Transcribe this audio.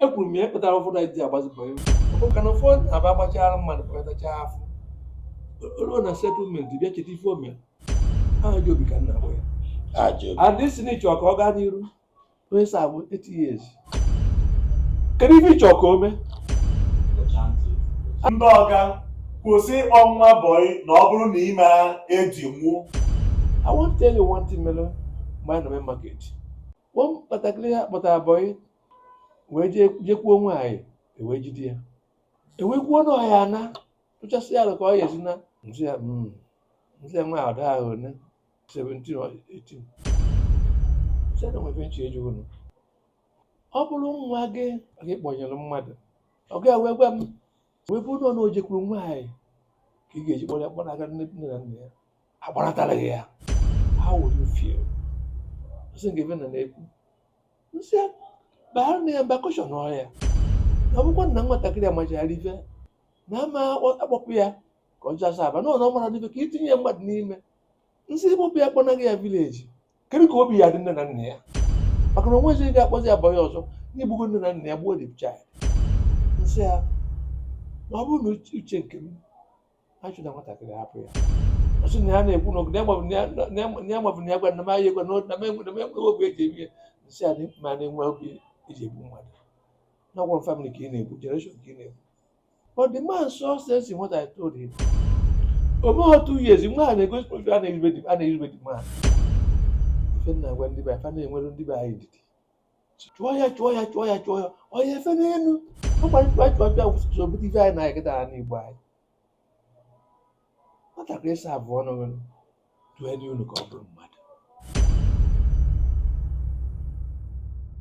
ekwuru m ya ife kpatara ụfọdụ anyị ji agbazi bọyị maka na ụfọdụ na-abụ agbachara mmadụ kpatacha afọ ruo na settlement bịa cheta ife o mere ajọ obi ka ọ na-abụ ya Ajọ obi. and ị sị na ị chọ ka ọ gaa n'iru onye serve 8 years kedu ife ị chọ ka o mee ndị ọga kwụsị ịkpọ nwa bọyị na ọ bụrụ na ime eji nwụ I want to tell you one thing mere mgbe anyị nọ Main Market one nwatakịrị ha kpọtara bọyị wee jee jekwuo nwaanyị ewee jide ya ewee kwuo na ọ ya-ana tụchasịa alo ka ọ ya-esi naa m sị ya mm, m sị ya nwa a dị around 17 or 18 sị na o nwe ife m chọ ịjụ unu ọ bụrụ nwa gị ka ị kpọnyere mmadụ ọ ga wee gwa m wee bụrụ na ọ na o jekwuru nwaanyị ka ị ga-eji kpọrọ ya kpọnaga nne nne na nna ya agbaratara gị ya how would you feel ọ sị nke na na-ekwu m sị ya baara na ya mba caution ọ ya na ọ bụkwa na nwatakịrị amachara ife na ama akpọpụ ya ka ọ je serve na ọ na ọ mara ife ka itinye ya mmadụ n'ime m sị ị kpọpụ ya kpọnaga ya village kedu ka obi ya-adị nne na nna ya maka na o nwezi ga-akpọzi ya bọyị ọzọ na i gbugo nne na nna ya gbuo the child m sị ya na ọ bụrụ na uche nke m achụna nwatakịrị hapụ ya ọ sị na ya na-ekwu na ya mabụ na ya gwa na m ahịa egwa na m enweghị obi eji eme ihe m sị ya ma na-enwe obi eji egbu mmadụ na ọ bụ whole family ka ị na-egbu generation ka ị na-egbu but the man saw sense in what I told him o meghọ two years nwa a na-egosi obi a na-erube the man ife m na-agwa ndị be anyị fa na-enwere ndị be anyị ndidi chụọ ya chụọ ya chụọ ya chụọ ya ọ ya-efe n'elu ọ kwa chụa chụa chụa butere ife anyị na-aga taa n'igbo anyị nwatakịrị serve ọ unu settle nụ ka ọ bụrụ mmadụ